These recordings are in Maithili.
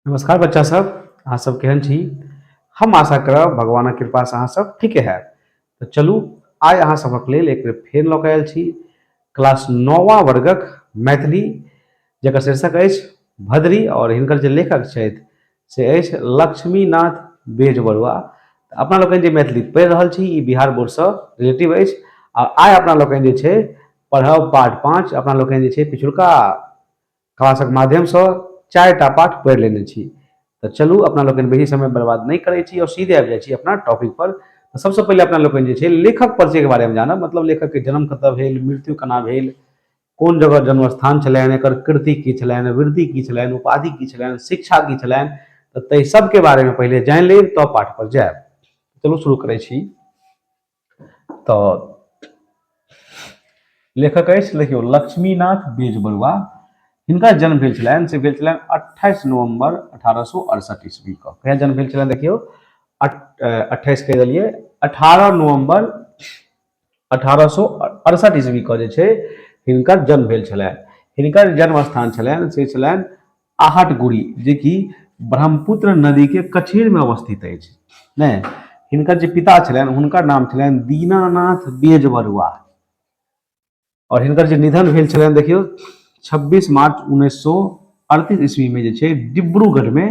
नमस्कार बच्चा सब अहाँ सब केहन छी हम आशा करब भगवानक कृपा से अहाँ सब ठीके है तो चलू आइ अहाँ सबक लेल एक बेर फेर लऽ कऽ आयल छी क्लास नौवा वर्गक मैथिली जकर शीर्षक अछि भद्री और हिनकर जे लेखक छथि से अछि लक्ष्मीनाथ बेज बरुआ अपना लोकनि जे मैथिली पढ़ि रहल छी ई बिहार बोर्डसँ रिलेटिव अछि आ आइ अपना लोकनि जे छै पढ़ब पार्ट पाँच अपना लोकनि जे छै पिछुलका क्लासक माध्यमसँ चारिटा पाठ पढ़ि लेने छी तऽ चलू अपना लोकनि बेसी समय बर्बाद नहि करै छी आओर सीधे आबि जाइ छी अपना टॉपिक पर तऽ सबसँ पहिले अपना लोकनि जे छै लेखक परिचयके बारेमे जानब मतलब लेखकके जन्म कतऽ भेल मृत्यु केना भेल कोन जगह जन्मस्थान छलनि एकर कृति की छलनि वृद्धि की छलनि उपाधि की छलनि शिक्षा की छलनि तऽ ताहि सबके बारेमे पहिले जानि लेब तब पाठ पर जायब चलू शुरू करै छी तऽ लेखक अछि देखियौ लक्ष्मीनाथ बेज बरुआ हिनका जन्म भेल छलनि से भेल छलनि अट्ठाइस नवम्बर अठारह सए अड़सठि ईस्वी के कहिया जन्म भेल छलनि देखियौ अट्ठाइस कहि देलियै अठारह नवम्बर अठारह सए अड़सठि ईस्वी के जे छै हिनकर जन्म भेल छलनि हिनकर जन्म स्थान छलनि से छलनि आहटगुड़ी जे कि ब्रह्मपुत्र नदी के कछेर में अवस्थित अछि ने हिनकर जे पिता छलनि हुनकर नाम छलनि दीनानाथ बेज बरुआ और हिनकर जे निधन भेल छलनि देखियौ 26 मार्च उन्नैस सौ अड़तीस ईस्वी में जे छै डिब्रूगढ़ में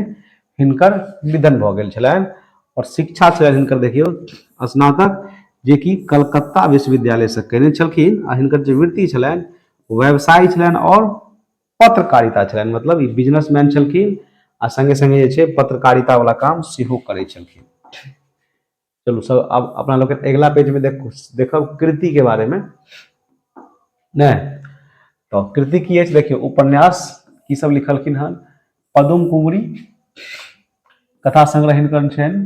हिनकर निधन भऽ गेल छलनि और शिक्षा छलनि हिनकर देखियौ स्नातक जे कि कलकत्ता विश्वविद्यालय से केने छलखिन आ हिनकर जे वृत्ति छलनि व्यवसाय छलनि और पत्रकारिता छलनि मतलब ई बिजनेसमैन छलखिन आ संगे संगे जे छै पत्रकारिता वाला काम सेहो करै छलखिन चलू सब अब अपना लोग अगला पेज में देखो देखो कृति के बारे में ने तो कृति की अछि देखियो उपन्यास की सब लिखलखिन हन पदुम कुमरी कथा संग्रह हिनकर छनि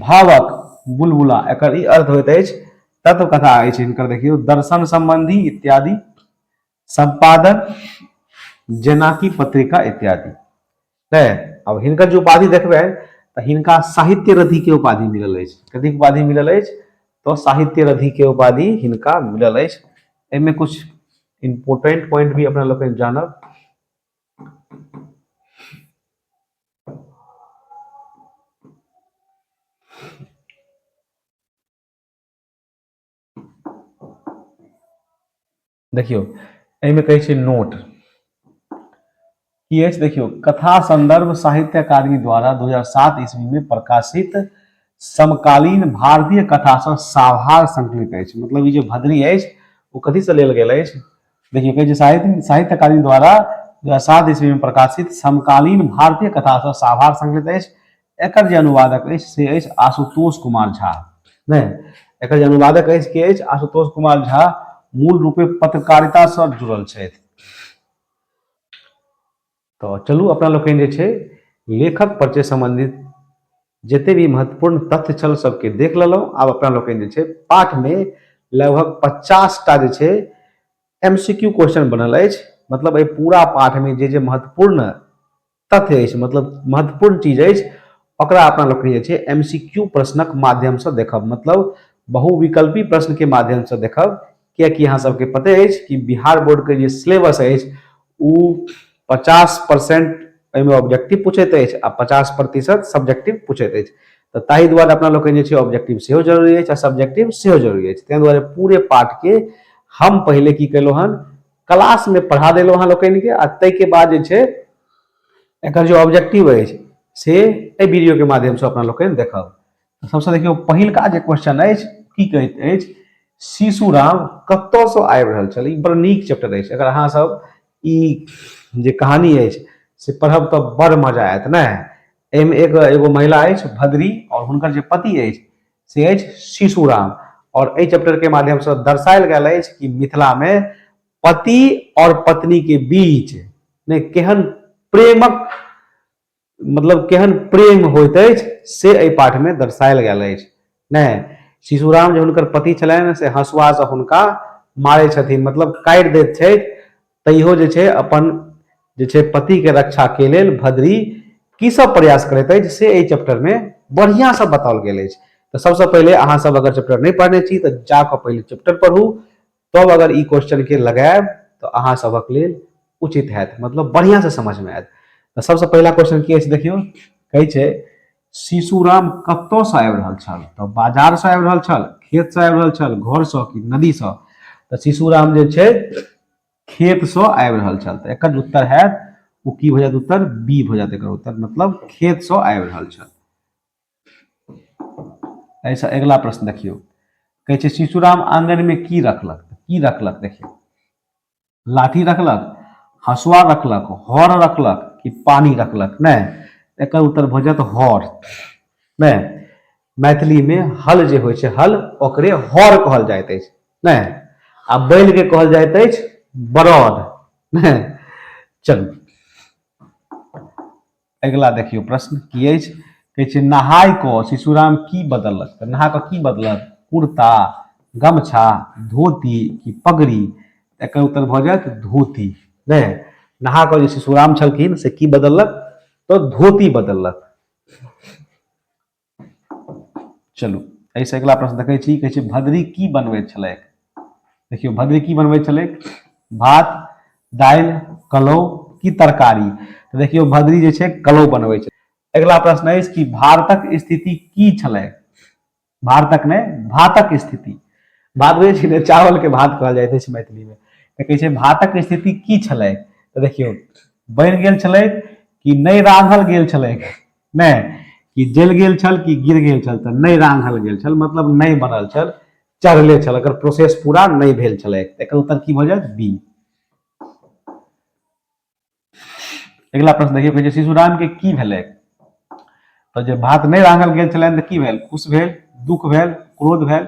भावक बुलबुला एकर ई अर्थ होइत अछि तत्व कथा अछि हिनकर देखियौ दर्शन संबंधी इत्यादि संपादन जेनाकि पत्रिका इत्यादि तै अब हिनकर जे उपाधि देखबै तऽ हिनका साहित्य रथि के उपाधि मिलल अछि कथी उपाधि मिलल अछि तो साहित्य रथि के उपाधि हिनका मिलल अछि एहिमे कुछ इम्पोर्टेंट पॉइंट भी अपना लोकनि जानब देखियौ एहिमे कहै छै नोट की अछि देखियौ कथा संदर्भ साहित्य अकादमी द्वारा 2007 ईस्वी में प्रकाशित समकालीन भारतीय कथा से साभार संकलित अछि मतलब ई जे भद्री अछि ओ कथी से लेल गेल अछि देखिए कहै छै साहित्य साहित्य अकादमी द्वारा दू हजार सात ईस्वी में प्रकाशित समकालीन भारतीय कथा से साभार संकलित अछि एकर जे अनुवादक अछि से अछि आशुतोष कुमार झा नहि एकर जे अनुवादक अछि के अछि आशुतोष कुमार झा मूल रूपे पत्रकारिता से जुड़ल छथि तऽ चलू अपना लोकनि जे छै लेखक परिचय सम्बन्धित जते भी महत्वपूर्ण तथ्य छल सबके देख लेलहुँ आब अपना लोकनि जे छै पाठमे लगभग पचास टा जे छै एम सी क्यू क्वेश्चन बनल अछि मतलब एहि पूरा पाठमे जे जे महत्वपूर्ण तथ्य अछि मतलब महत्वपूर्ण चीज अछि ओकरा अपना लोकनि जे छै एम सी क्यू प्रश्नक माध्यमसँ देखब मतलब बहुविकल्पी प्रश्नके माध्यमसँ देखब किएकि अहाँ सबके पते अछि कि बिहार बोर्डके जे सिलेबस अछि ओ पचास परसेंट एहिमे ऑब्जेक्टिव पूछैत अछि आ पचास प्रतिशत सब्जेक्टिव पूछैत अछि तऽ ताहि दुआरे अपना लोकनि जे छै ऑब्जेक्टिव सेहो जरूरी अछि आ सब्जेक्टिव सेहो जरूरी अछि ताहि दुआरे पूरे पाठके हम पहिले की केलहुँ हन क्लासमे पढ़ा देलहुँ अहाँ लोकनिके आ ताहिके बाद जे छै एकर जे ऑब्जेक्टिव अछि से एहि वीडियोके माध्यमसँ अपना लोकनि देखब सबसे देखियो पहिल का जे क्वेश्चन है की कहत है शिशु राम कत से आबि रहल छल ई बड़ नीक चैप्टर है अगर अहाँ सब ई जे कहानी है से पढ़ब तो बड़ मजा आयत ना एम एक एगो महिला है भद्री और हुनकर जे पति है से है शिशु राम और ए चैप्टर के माध्यम से दर्शायल गया है कि मिथिला में पति और पत्नी के बीच ने केहन प्रेमक मतलब केहन प्रेम होइत अछि से एहि पाठमे दर्शायल गेल अछि नहि शिशुराम जे हुनकर पति छलनि से हँसुआसँ हुनका मारै छथिन मतलब काटि दैत छथि तैयो जे छै अपन जे छै पतिके रक्षाके लेल भद्री की सब प्रयास करैत अछि से एहि चैप्टरमे बढ़िआँसँ बताओल गेल अछि तऽ सबसँ पहिले अहाँसब अगर चैप्टर नहि पढ़ने छी तऽ जाकऽ पहिले चैप्टर पढ़ू तब अगर ई क्वेश्चन के लगायब तो अहाँ सबक लेल उचित हैत मतलब बढ़िया से समझ में आयत तो सबसे पहला क्वेश्चन की अछि देखियो कहे छे शिशुराम कत से आबि रहल छल तो बाजार से आबि रहल छल खेत से आबि रहल छल घर से कि नदी से तो शिशुराम जे छे खेत से आबि रहल छल तो एकर उत्तर हैत ओ की भ जायत उत्तर बी भ जायत एकर उत्तर मतलब खेत से आबि रहल छल एहिसँ अगिला प्रश्न देखियौ कहै छै शिशुराम आंगनमे की रखलक की रखलक देखियौ लाठी रखलक हसुआ रखलक हर रखलक कि पानी रखलक नहि एकर उत्तर भऽ जायत हर नहि मैथिलीमे हल जे होइ छै हल ओकरे हर कहल जाइत अछि नहि आ बैलके कहल जाइत अछि बरद नहि चलू अगिला देखियौ प्रश्न की अछि कहै छै नहाय कऽ शिशुराम की बदललक तऽ नहा कऽ की बदलक कुर्ता गमछा धोती की पगड़ी एकर उत्तर भऽ जायत धोती नहि नहा कऽ जे शिशुराम छलखिन से की बदललक तऽ धोती बदललक चलू एहिसँ अगिला प्रश्न देखै छी कहै छै भद्री की बनबैत छलैक देखियौ भद्री की बनबैत छलैक भात दालि कलौ की तरकारी तऽ देखियौ भद्री जे छै कलौ बनबै छै अगिला प्रश्न अछि कि भारतक स्थिति की छलैक भारतक नहि भातक स्थिति भात बुझै छी ने चावलके भात कहल जाइत अछि मैथिलीमे तऽ कहै छै भातक स्थिति की छलैक तऽ देखियौ बनि गेल छलैक कि नहि रान्हल गेल छलैक नहि कि जल गेल छल कि गिर गेल छल तऽ नहि रान्हल गेल छल मतलब नहि बनल छल चढ़ले छल एकर प्रोसेस पूरा नहि भेल छलै एकर उत्तर की भऽ जायत बी अगिला प्रश्न देखियौ कहै शिशु राम के की भेलै तो जे भात नहीं रांगल गेल छलनि तऽ की भेल खुश भेल दुख भेल क्रोध भेल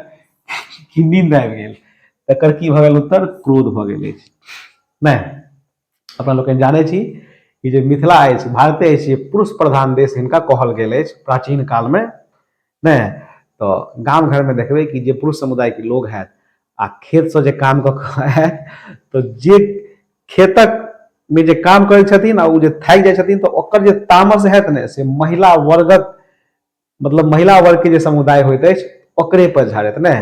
कि नींद आबि गेल तकर की भऽ गेल उत्तर क्रोध भऽ गेल अछि नहि अपना लोक जानै छी कि जे मिथिला अछि भारते अछि पुरुष प्रधान देश हिनका कहल गेल अछि प्राचीन कालमे नहि तऽ गाम घरमे देखबै कि जे पुरुष समुदायके लोक हैत आ खेतसँ जे काम कऽ कऽ आयत तऽ जे खेतक मे जे काम करै छथिन आ ओ जे थाकि जाइ छथिन तऽ ओकर जे तामस हैत ने से महिला वर्गक मतलब महिला वर्ग के जे समुदाय होइत अछि ओकरे पर झाड़त ने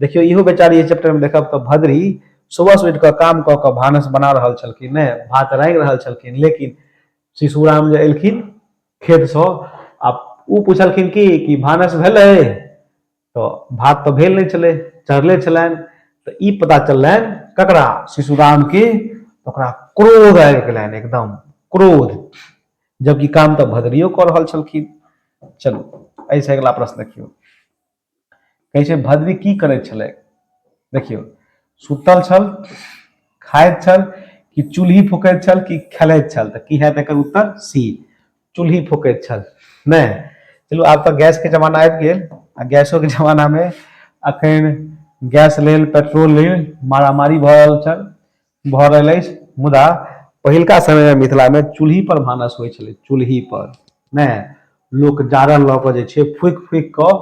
देखियो इहो बेचारी चैप्टर में देखब तो भद्री सुबह से उठ कऽ काम कऽ कऽ भानस बना रहा छलखिन ने भात रांगि रहा छलखिन लेकिन शिशुराम जे एलखिन खेत से आ ओ पूछलखिन कि कि भानस भेलै तो भात तो भेल नहीं छलै चढ़ले छलनि तो ई पता चललनि ककरा शिशुराम के तो क्रोध आबि गेलनि एकदम क्रोध जबकि काम तऽ भदरियो कऽ रहल छलखिन चलू एहिसँ अगिला प्रश्न देखियौ कहै छै भद्री की करैत छलै देखियौ सुतल छल खाइत छल कि चूल्ही फूकैत छल कि खेलैत छल तऽ की हैत एकर उत्तर सी चूल्ही फूकैत छल नहि चलू आब तऽ गैसके जमाना आबि गेल आ गैसोके जमानामे अखन गैस लेल पेट्रोल लेल मारामारी भऽ रहल छल भऽ रहल अछि मुदा पहिलका समयमे मिथिलामे चूल्ही पर भानस होइ छलै चूल्ही पर नहि लोक जारन लऽ कऽ जे छै फूकि फूकि कऽ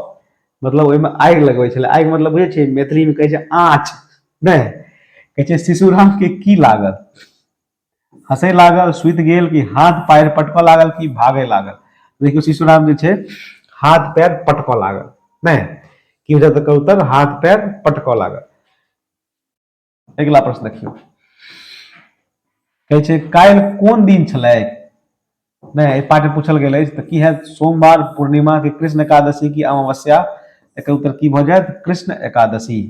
मतलब ओहिमे आगि लगबै छलै आगि मतलब बुझै छियै मैथिलीमे कहै छै आँच नहि कहै छै शिशुरामके की लागल हँसै लागल सुति गेल कि हाथ पैर पटकऽ लागल कि भागय लागल देखियौ शिशुराम जे छै हाथ पैर पटकऽ लागल नहि की होइत तऽ कहू तऽ हाथ पैर पटकऽ लागल अगिला प्रश्न देखियौ कहै छै काल्हि कोन दिन छलै नहि एहि पाठ पूछल गेल अछि तऽ की हैत सोमवार पूर्णिमा के कृष्ण एकादशी की अमावस्या एकर उत्तर की भऽ जायत कृष्ण एकादशी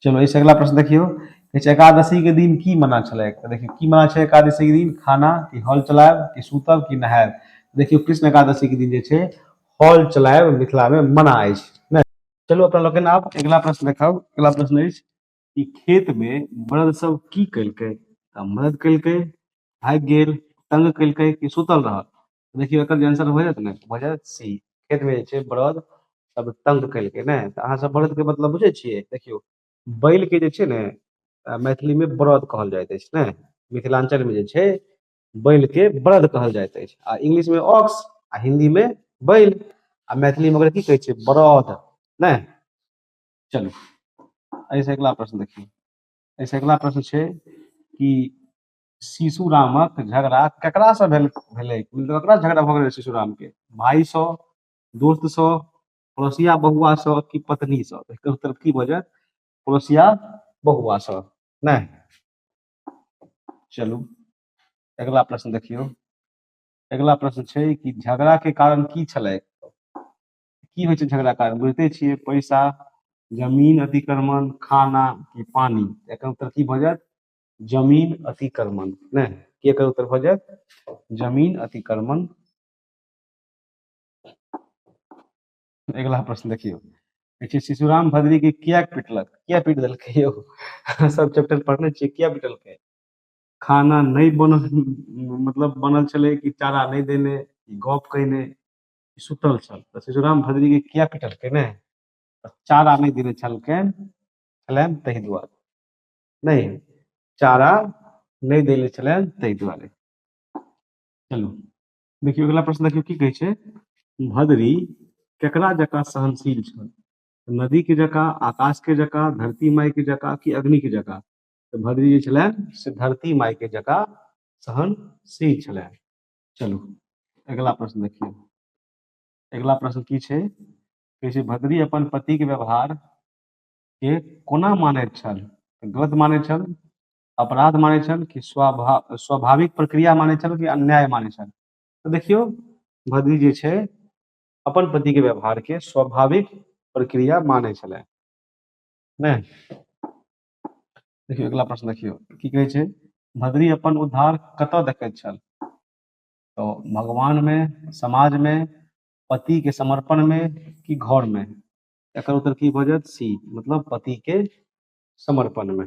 चलो एहिसँ अगिला प्रश्न देखियौ कहै छै एकादशी के दिन की मना छलै तऽ देखियौ की मना छै एकादशी के दिन खाना कि हल चलायब कि सुतब कि नहायब देखियौ कृष्ण एकादशी के दिन जे छै हल चलायब मिथिलामे मना अछि चलू अपना लोकनि आब अगिला प्रश्न देखब अगिला प्रश्न अछि कि खेत मे मर्द सब की कलकै तऽ मर्द कलकै भागि गेल तंग कलकै कि सुतल रहल तऽ देखियौ एकर जे आंसर भऽ जायत ने भऽ जायत सी खेत मे जे छै बरद सब तंग कलकै ने तऽ अहाँ सब बरद के मतलब बुझै छियै देखियौ बैल के जे छै ने अ, मैथिली मे बरद कहल जाइत अछि ने मिथिलांचल मे जे छै बैल के बलद कहल जाइत अछि आ इंग्लिश में ऑक्स आ हिंदी में बैल आ मैथिली में ओकरा की कहै छै बरद नै चलू एहि से अगिला प्रश्न देखियौ एहि से अगिला प्रश्न छै कि शिशु रामक झगड़ा ककरा से भेल भेलै मतलब ककरा से झगड़ा भऽ गेलै शिशु राम के भाई से दोस्त से पड़ोसिया बहुआ से कि पत्नी से एकर उत्तर की भऽ जायत पड़ोसिया बहुआ से नै चलू अगला प्रश्न देखियौ अगला प्रश्न छै कि झगड़ा के कारण की छलै की होइ छै झगड़ा कारण बुझते छियै पैसा जमीन अतिक्रमण खाना कि पानी एकर उत्तर की भऽ जायत जमीन अतिक्रमण नहि की एकर उत्तर भऽ जायत जमीन अतिक्रमण अगिला प्रश्न देखियौ देखिए शिशुराम भद्री के किया पिटलक किया पीट दिल यो सब चैप्टर पढ़ने छे किया पिटल के खाना नहीं बन मतलब बनल चले कि चारा नहीं देने गप कहने सुतल छल तो शिशुराम भद्री के किया पिटल के ने चारा नहीं देने छल के छलन तही द्वार नहीं चारा नहीं देने छलन तही द्वारे चलो देखियौ अगिला प्रश्न देखियौ की कहै छै भदरी केकरा जकाँ सहनशील छल नदी के जकाँ आकाश के जकाँ धरती माई के जकाँ कि अग्नि के जकाँ तऽ भदरी जे छलै से धरती माई के जकाँ सहनशील छलै चलू अगिला प्रश्न देखियौ अगिला प्रश्न की छै कहै छै भदरी अपन पति के व्यवहार के कोना मानैत छल गलत मानैत छल अपराध मानै छल कि स्वाभाव स्वाभाविक प्रक्रिया मानै छल कि अन्याय मानै छल तऽ देखियौ भदी जे छै अपन पतिके व्यवहारके स्वाभाविक प्रक्रिया मानै छलै नहि देखियौ अगिला प्रश्न देखियौ की कहै छै भद्री अपन उद्धार कतऽ देखैत छल तऽ भगवानमे समाजमे पतिके समर्पणमे कि घरमे एकर उत्तर की भऽ जायत सी मतलब पतिके समर्पणमे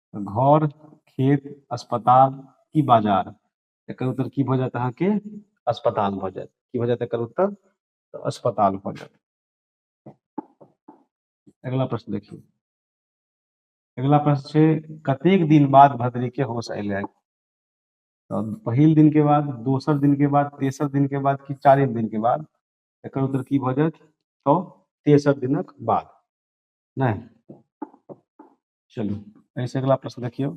घर खेत अस्पताल की बाजार एकर उत्तर की भऽ जायत अहाँके अस्पताल भऽ जायत की भऽ जायत एकर उत्तर तऽ अस्पताल भऽ जायत अगला प्रश्न देखियौ अगला प्रश्न छै कतेक दिन बाद भद्री के होश अयलै है तऽ पहिल दिन के बाद दोसर दिन के बाद तेसर दिन के बाद कि चारिम दिन के बाद एकर उत्तर की भऽ जायत तऽ तेसर दिनक बाद नहि चलू एहिसँ अगिला प्रश्न देखियौ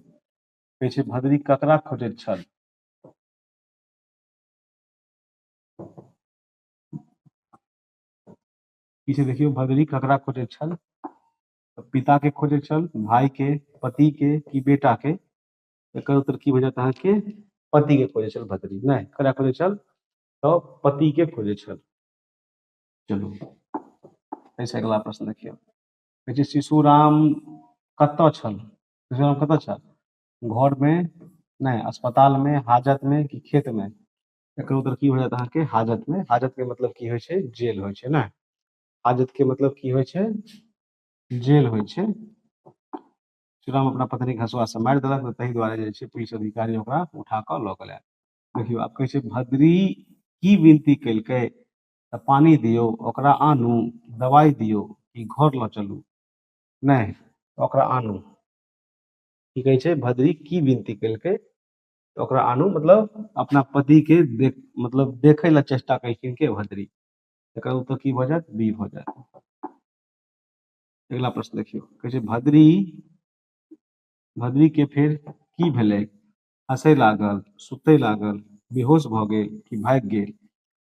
कहै छै भदरी ककरा खोजैत छल की छै देखियौ भदरी ककरा खोजैत छल पिता के खोजे छल भाई के पति के कि बेटा के एकर उत्तर की हो जायत अहाँके पति के खोजे छल भदरी नहि ककरा खोजे छल तऽ पति के खोजे छल चलू एहिसँ अगिला प्रश्न देखियौ कहै छै शिशु राम कतऽ छल शिशु राम कतऽ छल घरमे नहि अस्पतालमे हाजतमे कि खेतमे एकर उत्तर की हो जायत अहाँके हाजतमे हाजतके मतलब की होइ छै जेल होइ छै ने हाजतके मतलब की होइ छै जेल होइ छै श्रीराम अपना पत्नी घसुआ से मारि देलक तऽ ताहि दुआरे जे छै पुलिस अधिकारी ओकरा उठा कऽ लऽ गेलै देखियौ आब कहै छै भद्री की विनती केलकै तऽ पानी दियौ ओकरा आनू दवाइ दियौ कि घर लऽ चलू नहि ओकरा आनू की कहै छै भद्री की विनती केलकै ओकरा आनू मतलब अपना पतिके देख मतलब देखै लए चेष्टा केलखिन के भद्री एकर उत्तर की भऽ जायत बी भऽ जायत अगिला प्रश्न देखियौ कहै छै भद्री भद्री के फेर की भेलै हँसय लागल सुतय लागल बेहोश भऽ गेल कि भागि गेल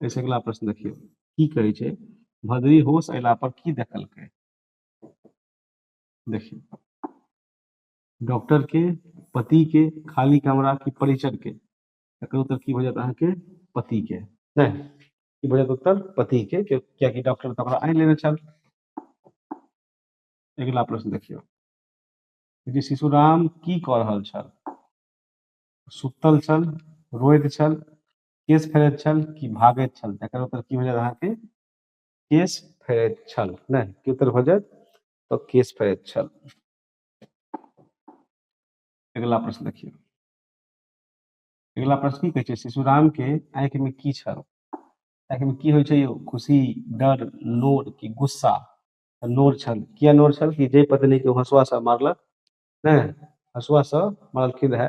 एहिसँ अगिला प्रश्न देखियौ की कहै छै भदरी होश अयला पर की देखलकै देखियौ डॉक्टर के पति के खाली कमरा की परिचर के एकर उत्तर की भऽ जायत अहाँके पति के नहि की भऽ जायत उत्तर पति के कियाकि डॉक्टर तऽ ओकरा आनि लेने छल अगिला प्रश्न देखियौ जे शिशुराम की कऽ रहल छल सुतल छल रोइत छल केश फेरैत छल कि भागैत छल तकर उत्तर की भऽ जायत अहाँके केश फेरैत छल नहि की उत्तर भऽ जायत तऽ केश फेरैत छल अगिला प्रश्न देखियौ अगिला प्रश्न की कहै छै शिशुराम के आंखि में की छल आंखि में की होइ छै यौ खुशी डर लोर कि गुस्सा तऽ लोर छल किया लोर छल कि जय पत्नी के हसुआ से मारलक नहि हसुआ से मारलखिन रहए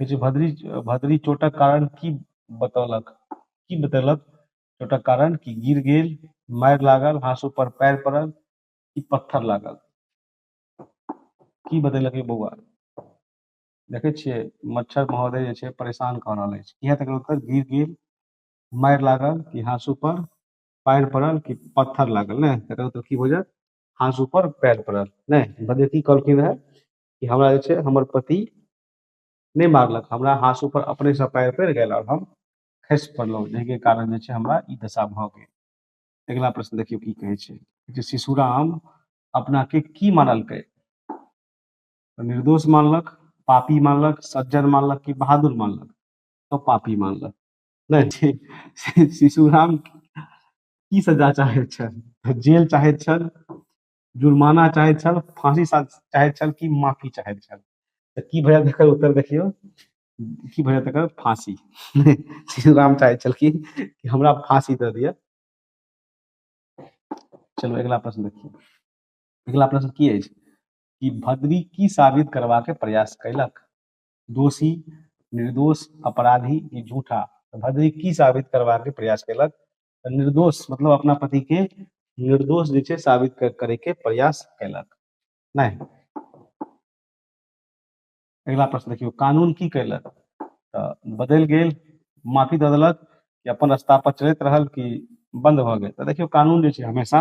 कहै छै भद्री भद्री चोटक कारण की बतौलक की बतेलक चोटक कारण कि गिर गेल मारि लागल हाँसू पर पैर पड़ल कि पत्थर लागल की बतेलक बौआ देखै छियै मच्छर महोदय जे छै परेशान कऽ रहल अछि इएह तक उत्तर गिर गेल मारि लागल कि हाँसू पर पैर पड़ल कि पत्थर लागल ने तकर उत्तर की बुझत हाँसू पर पैर पड़ल ने बदे की कहलखिन रहए कि हमरा जे छै हमर पति नहि मारलक हमरा हाँसू पर अपनेसँ पैर पड़ि गेल आओर हम खसि पड़लहुँ जाहिके कारण जे छै हमरा ई दशा भऽ गेल अगिला प्रश्न देखियौ की कहै छै जे शिशुराम अपनाके की मानलकै तऽ निर्दोष मानलक पापी मानलक सज्जन मानलक कि बहादुर मानलक तो पापी मानलक नहीं शिशुराम की सजा चाहैत छल जेल चाहैत छल जुर्माना चाहैत छल फाँसी सा- चाहैत छल कि माफी चाहैत छल तऽ की भैया तकर उत्तर देखियौ की भैया तकर फाँसी श्री राम चाहैत छल कि कि हमरा फाँसी दऽ दिअ चलू अगिला प्रश्न देखियौ अगिला प्रश्न की अछि कि भद्री की साबित करबाक प्रयास कयलक दोषी निर्दोष अपराधी कि झूठा तऽ भद्री की साबित करबाक प्रयास कयलक निर्दोष मतलब अपना पति के निर्दोष जे छै साबित करे के प्रयास कैलक नहीं अगला प्रश्न देखियो कानून की कैलक बदल गए माफी द दिलक कि अपन रास्ता पर चलत रहल कि बंद भ गए तो देखियो कानून जे छै हमेशा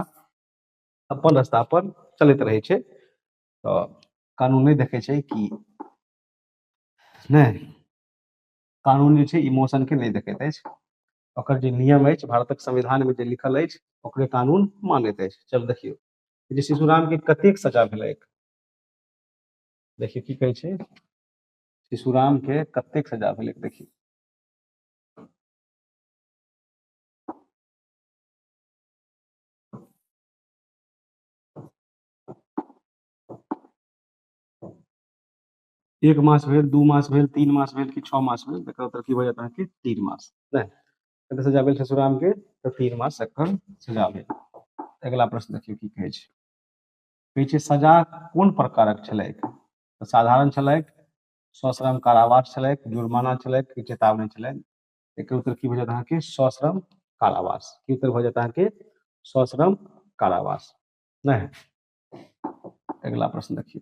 अपन रास्ता पर चलत रहे छै तो कानून नहीं देखे छै कि नहीं कानून जे छै इमोशन के नहीं देखैत अछि ओकर जे नियम अछि भारतक संविधानमे जे लिखल अछि ओकरे कानून मानैत अछि चल देखियौ जे शिशुरामके कतेक सजा भेलै देखियौ की कहै छै शिशुरामके कतेक सजा भेलै देखियौ एक मास भेल दू मास भेल तीन मास भेल कि छओ मास भेल तकर उत्तर की भऽ जायत अहाँके तीन मास नहि कतऽ सजा भेल ससुरामके तऽ तीन मास एखन सजा भेल अगिला प्रश्न देखियौ की कहै छै कहै छै सजा कोन प्रकारक छलैक तऽ साधारण छलैक सश्रम कारावास छलैक जुर्माना छलैक कि चेतावनी छलैक एकर उत्तर की भऽ जायत अहाँके सश्रम कारावास की उत्तर भऽ जायत अहाँके सश्रम कारावास नहि अगिला प्रश्न देखियौ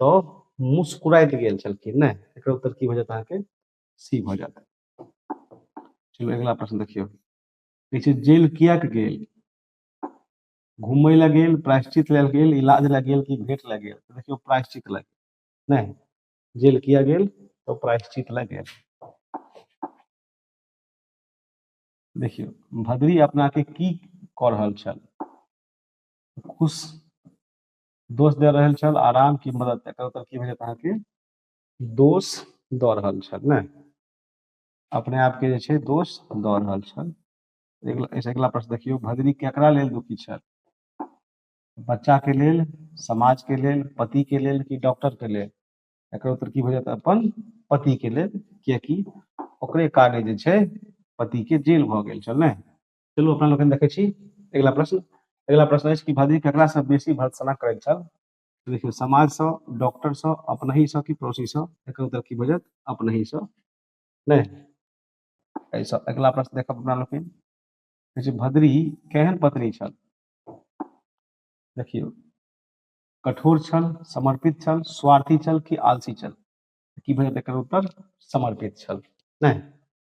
तऽ मुस्कुराइत गेल छलखिन नहि एकर उत्तर की भऽ जायत अहाँके सी भऽ जायत चलू अगिला प्रश्न देखियौ कहै छै जेल किएक गेल घूमय लए गेल प्रायश्चित लेल गेल इलाज लए गेल कि भेट लए गेल तऽ देखियौ प्रायश्चित लए गेल नहि जेल किया गेल तो प्रायश्चित लए गेल देखियौ भद्री अपना के की कऽ रहल छल खुश दोष दे रहल छल आ राम की मदद एकर उत्तर की भेटत अहाँके दोष दऽ रहल छल ने अपने आपके जे छै दोष दऽ रहल छल एहिसँ अगिला प्रश्न देखियौ भगनी केकरा लेल दुखी छल बच्चाके लेल समाजके लेल पतिके लेल कि डॉक्टरके लेल एकर उत्तर की भऽ जायत अपन पतिके लेल कियकि ओकरे काले जे छै पतिके जेल भऽ गेल छल ने चलू अपना लोकनि देखै छी अगिला प्रश्न अगिला प्रश्न अछि कि भदरी ककरासँ बेसी भर्त्सना करैत छल देखियौ समाजसँ डॉक्टरसँ अपनहीसँ कि पड़ोसीसँ एकर उत्तर की भऽ जायत अपनहीसँ नहि एहिसँ अगिला प्रश्न देखब अपना लोकनि कहै छै भद्री केहन पत्नी छल देखियौ कठोर छल समर्पित छल स्वार्थी छल कि आलसी छल की भऽ जायत एकर उत्तर समर्पित छल नहि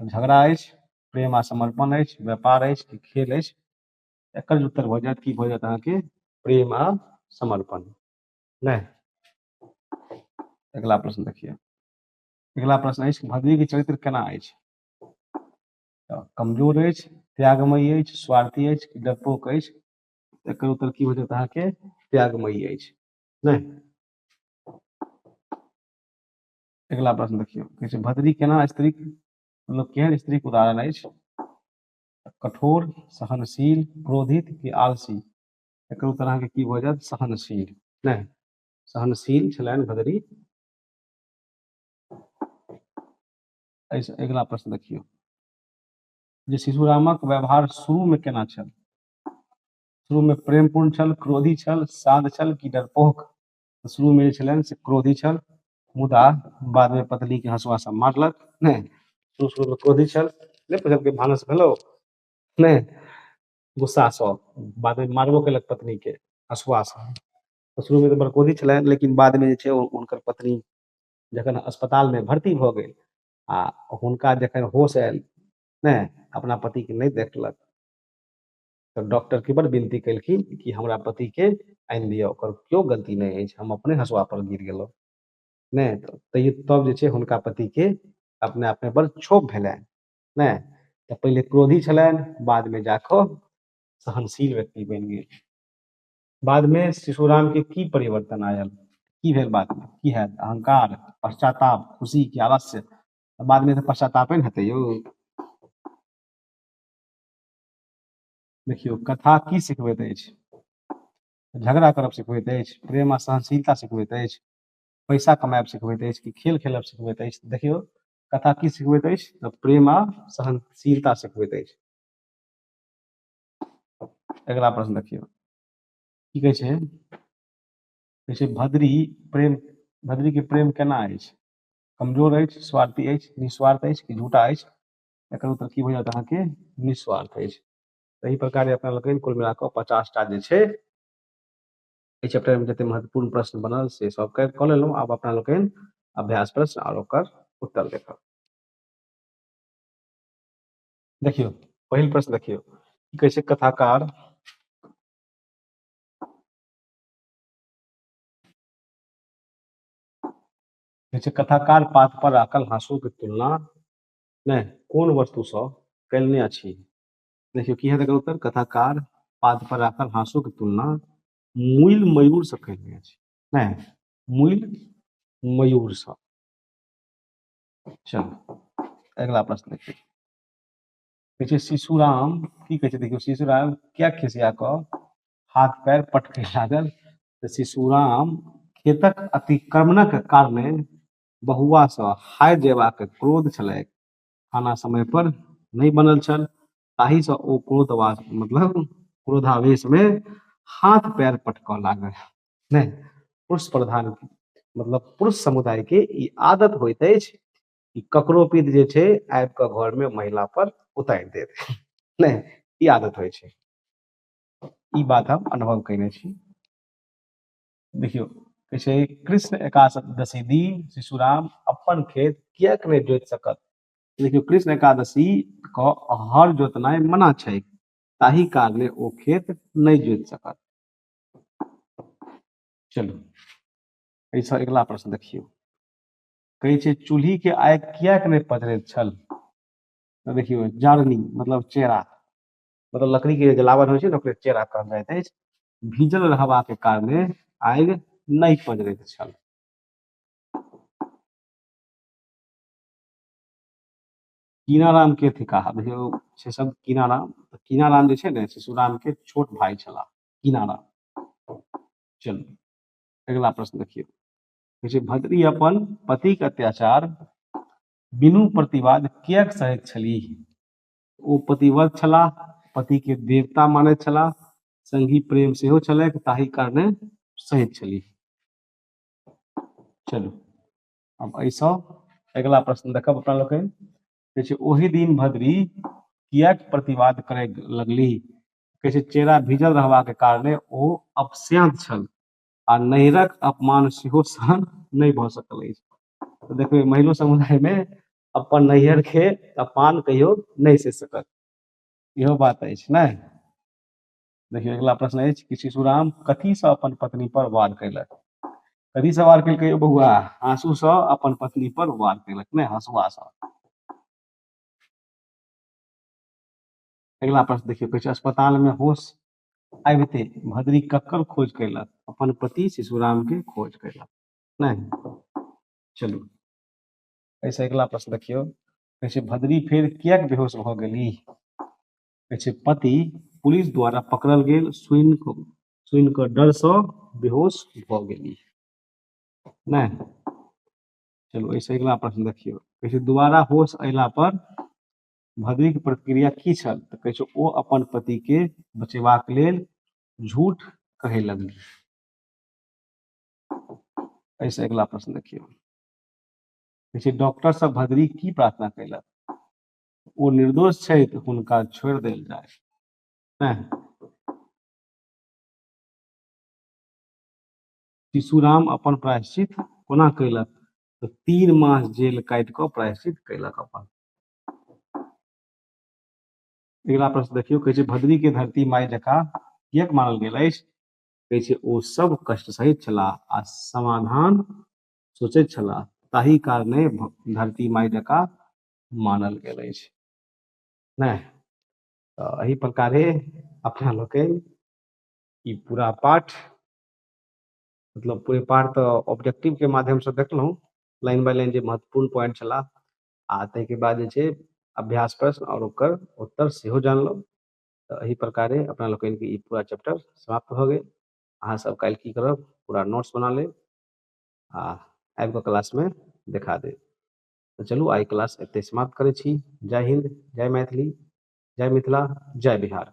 झगड़ा अछि प्रेम आ समर्पण अछि व्यापार अछि कि खेल अछि एकर उत्तर भऽ जायत की भऽ जायत अहाँके प्रेम आ समर्पण नहि अगला प्रश्न देखिए अगला प्रश्न अछि भगवी के चरित्र केना अछि तऽ कमजोर अछि त्यागमयी अछि स्वार्थी अछि कि डरपोक अछि एकर उत्तर की हो जायत अहाँके त्यागमयी अछि नहि अगिला प्रश्न देखियौ कहै छै भद्री केना स्त्री मतलब केहन स्त्रीक उदाहरण अछि कठोर सहनशील क्रोधित कि आलसी एकर उत्तर अहाँके की भऽ जायत सहनशील नहि सहनशील छलनि भदरी अगिला प्रश्न देखियौ जे शिशुरामक व्यवहार शुरूमे केना छल शुरूमे प्रेमपूर्ण छल क्रोधी छल शान्त छल कि डरपोक शुरूमे जे छलनि से क्रोधी छल मुदा बाद में पत्नी के हंसुआ से मारलक नहीं शुरू शुरू में क्रोधी छल नहीं पुछलकै भानस भेलो नहीं गुस्सा से बाद में मारबो केलक पत्नी के हंसुआ से तो शुरू में तो बड़ क्रोधी छलै लेकिन बाद में जे छै ओ- हुनकर पत्नी जखन अस्पताल में भर्ती भऽ गेल आ हुनका जखन होश आयल नहि अपना पति के नहि देखलक तऽ डॉक्टर के बड़ विनती केलखिन कि हमरा पति के आनि दिअ ओकर केओ गलती नहि अछि हम अपने हसुआ पर गिर गेलहुँ नहि तऽ तैयो तब जे छै हुनका पति के अपने आप मे बड़ क्षोभ भेलनि नहि तऽ पहिले क्रोधी छलनि बाद मे जा कऽ सहनशील व्यक्ति बनि गेल बाद मे शिशु राम के की परिवर्तन आयल की भेल बाद मे की हैत अहंकार पश्चाताप खुशी की अवश्य बाद मे तऽ पश्चातापे ने हेतै यौ देखियौ कथा की सिखबैत अछि झगड़ा करब सिखबैत अछि प्रेम आ सहनशीलता सिखबैत अछि पैसा कमायब सिखबैत अछि कि खेल खेलब सिखबैत अछि देखियौ कथा की सिखबैत अछि तऽ प्रेम आ सहनशीलता सिखबैत अछि अगला प्रश्न देखियौ की कहै छै कहै छै भद्री प्रेम भद्री के प्रेम केना अछि कमजोर अछि स्वार्थी अछि निस्वार्थ अछि कि झूठा अछि एकर उत्तर की भऽ जायत अहाँके निस्वार्थ अछि तही प्रकार अपना लोकनि कुल मिला कऽ पचास टा जे छै एहि चैप्टरमे जतेक महत्वपूर्ण प्रश्न बनल से सब कऽ कऽ लेलहुँ आब अपना लोकनि अभ्यास प्रश्न आओर ओकर उत्तर देखब देखियौ पहिल प्रश्न देखियौ की कहै छै कथाकार कहै छै कथाकार पात पर राखल हाँसू के तुलना नहि कोन वस्तुसँ कयलने अछि देखियौ की हेतै उत्तर कथाकार पाद पर राखल हाँसू के तुलना मूल मयूर से कयलने अछि नहि मूल मयूर से चलो अगला प्रश्न देखिए कहै छै शिशुराम की कहै छै देखियौ शिशुराम क्या खिसिया कऽ हाथ पैर पटके लागल तऽ शिशुराम खेतक अतिक्रमणक कारणे बहुआ सँ हारि जयबाक क्रोध छलैक। खाना समय पर नहि बनल छल ताहि सँ ओ क्रोधवा मतलब क्रोधावेश मे हाथ पैर पटकऽ लागल। नहि पुरुष प्रधान मतलब पुरुष समुदाय के ई आदत होइत अछि कि ककरो पित जे छै आबि कऽ घर मे महिला पर उतारि देत। नहि ई आदत होइ छै। ई बात हम अनुभव कयने छी। देखियौ कहै छै कृष्ण एकादशी दिन शिशुराम अपन खेत किएक नहि जोति सकत देखियौ कृष्ण एकादशी के हर जोतनाइ मना छै ताहि कारणे ओ खेत नहि जोति सकत चलू एहिसँ अगिला प्रश्न देखियौ कहै छै चूल्ही के आगि किएक नहि पजरैत छल देखियौ जरनी मतलब चेरा मतलब लकड़ी के जलावन होइ छै ने ओकरे चेरा कहल जाइत अछि भीजल रहबाक कारणे आगि नहि पजरैत छल कीनाराम के थिकाह देखियौ से सब कीनाराम तऽ कीनाराम जे छै ने से सुराम के छोट भाई छला कीनाराम चलू अगिला प्रश्न देखियौ कहै छै भद्री अपन पतिक अत्याचार बिनु प्रतिवाद किएक सहैत छलीह ओ पतिव्रत छलाह पति के देवता माने छलाह संगी प्रेम सेहो छलैक ताहि कारणे सहित छली चलू अब ऐसा अगला प्रश्न देखब अपना लोग कहै छै ओहि दिन भद्री किया प्रतिवाद करे लगली कहै छै चेहरा भीजल रहबा के कारणे ओ अपस्यांत छल आ नैरक अपमान सेहो सहन नहि भऽ सकल अछि देखबै महिलो समुदाय में अपन नैहर के अपान कहियो नहि से सकत इहो बात अछि ने देखियौ अगला प्रश्न अछि कि शिशुराम कथी से अपन पत्नी पर वार कैलक कथी से वार कैलकै यौ बौआ आंसू से अपन पत्नी पर वार कैलक ने हंसुआ से अगला प्रश्न देखियौ कहै छै अस्पताल में होश आबिते भद्री ककर खोज कैलक अपन पति शिशुराम के खोज कैलक नहि चलू एहिसँ अगिला प्रश्न देखियौ कहै छै भद्री फेर किएक बेहोश भऽ गेली कहै छै पति पुलिस द्वारा पकड़ल गेल सुनि कऽ सुनि कऽ डरसँ बेहोश भऽ गेली नहि चलू एहिसँ अगिला प्रश्न देखियौ कहै छै दुबारा होश अयला पर भद्रीक प्रतिक्रिया की छल तऽ कहै छै ओ अपन पतिके बचेबाक लेल झूठ कहै लगली एहिसँ अगिला प्रश्न देखियौ कहै छै डॉक्टर सब भदरी की प्रार्थना कैलक ओ निर्दोष छै तऽ हुनका छोड़ि देल जाय नहि शिशुराम अपन प्रायश्चित कोना कैलक तऽ तीन मास जेल काटि कऽ प्रायश्चित कैलक अपन अगिला प्रश्न देखियौ कहै छै भद्री के धरती माय जका किएक मानल गेल अछि कहै छै ओ सब कष्ट सहित छलाह आ समाधान सोचैत छलाह ताहि कारणे धरती माय जकाँ मानल गेल अछि नहि तऽ एहि प्रकारे अपना लोकनि ई पूरा पाठ मतलब पूरे पाठ तऽ ऑब्जेक्टिव के माध्यम से देखलहुँ लाइन बाय लाइन जे महत्वपूर्ण पॉइंट छला आ ताहिके बाद जे छै अभ्यास प्रश्न आओर ओकर उत्तर सेहो जानलहुँ तऽ एहि प्रकारे अपना लोकनिके ई पूरा चैप्टर समाप्त भऽ गेल अहाँ सब काल्हि की करब पूरा नोट्स बना लेब आ आबि कऽ क्लासमे देखा देब तऽ चलू आइ क्लास एतहि समाप्त करै छी जय हिन्द जय मैथिली जय मिथिला जय बिहार